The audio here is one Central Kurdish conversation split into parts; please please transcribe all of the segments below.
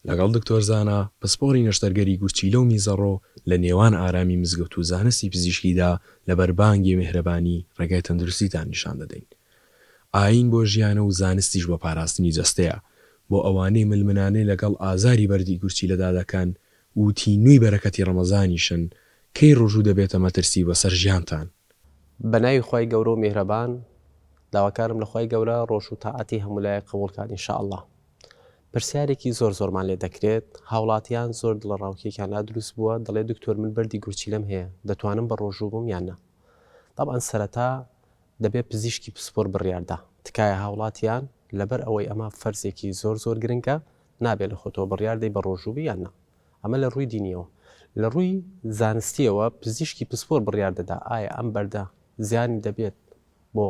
لەگەڵ دکتۆر زانا پسپۆڕی نەشتەرگەری گورچیلە و میزەڕۆ لە نێوان ئارامی مزگەوت و زانستی پزیشکیدا لە بەر بانگێ مێهرەبانی ڕێگای تەندروستیتان نیشان دەدەین. ئایین بۆ ژیانە و زانستیش بۆ پاراستنی جەستەیە. بۆ ئەوانەی ململانێ لەگەڵ ئازاری بەردی گورچیلەدا دەکەن و تینووی بەرەکەتی ڕەمەزانیشن کەی ڕوژو دەبێتە مەترسی بەسەر ژیانتان. بەناوی خوای گەورەو میهرەبان داواکارم لە خوای گەورە ڕۆژو تاعەتی هەمولایەک قبوڵ کات ان شاءاللە پرسیارێکی زۆر زۆرمان لێ دەکرێت هاوڵاتیان زۆر دڵە ڕاوکێکیان لا دروست بووە دەڵێ دکتۆر من بەردی گورچیلەم هەیە دەتوانم بە ڕۆژو بم یان نا تەبعەن سەرەتا دەبێ پزیشکی پسپۆر بڕیاردا تکایە هاوڵاتیان لەبەر ئەوەی ئەمە فەرزێکی زۆر زۆر گرنگە نابێ لە خۆتەوە بڕیار دەی بە ڕۆژو بی یان نا. ئەمە لە ڕووی دینییەوە. لە ڕووی زانستییەوە پزیشکی پسپۆر بڕیار دەدا ئایا ئەم بەردە زیانی دەبێت بۆ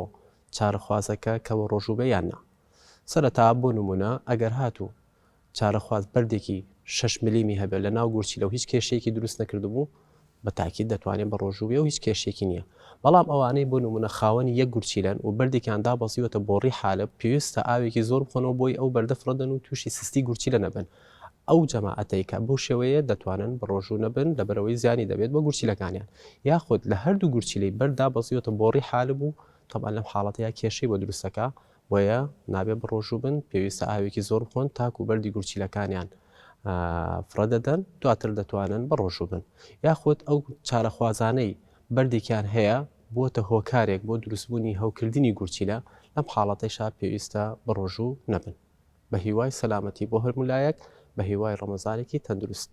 چارەخوازەکە کە وەڕۆژووبێ یان نا. سەرەتا بۆ نموونە ئەگەر هاتوو چارەخواز بەردێکی شەش ملیمی هەبێت لە ناو گورچیلە و هیچ کێشەیەکی دروست نەکردبوو، بە تاکید دەتوانێ بە ڕۆژوو بێ و هیچ کێشەیەکی نییە. بەڵام ئەوانەی بۆ نموونە خاوەنی یەک گورچیلەن و بەردێکیان دابەزیوەتە بۆڕی حالب، پێویستە ئاوێکی زۆر بخۆنەوە بۆی ئەو بەردە فڕێدەن و تووشی سستی گورچیلە نەبن. ئەو جەماعەتەی کە بەو شێوەیە دەتوانن بە ڕۆژوو نەبن لەبەرئەوەی زیانی دەبێت بە گورچیلەکانیان. یاخود لە هەردوو گورچیلەی بەرد دابەزیوەتە بۆڕی حالب و تەبعەن لەم حاڵەتەیا کێشەی بۆ دروست دەکا، بۆیە نابێت بەڕۆژوو بن، پێویستە ئاوێکی زۆر بخۆن تاکوو بەردی گورچیلەکانیان فڕێدەدەن، دواتر دەتوانن بەڕۆژوو بن. یاخود ئەو چارەخوازانەی بەردێکیان هەیە بووەتە هۆکارێک بۆ دروستبوونی هەوکردنی گورچیلە، لەم حاڵەتەیشا پێویستە بەڕۆژوو نەبن. بەهیوای سەلامەتی بۆ هەرموو لایەک، بەهیوای ڕەمەزانێکی تەندروست.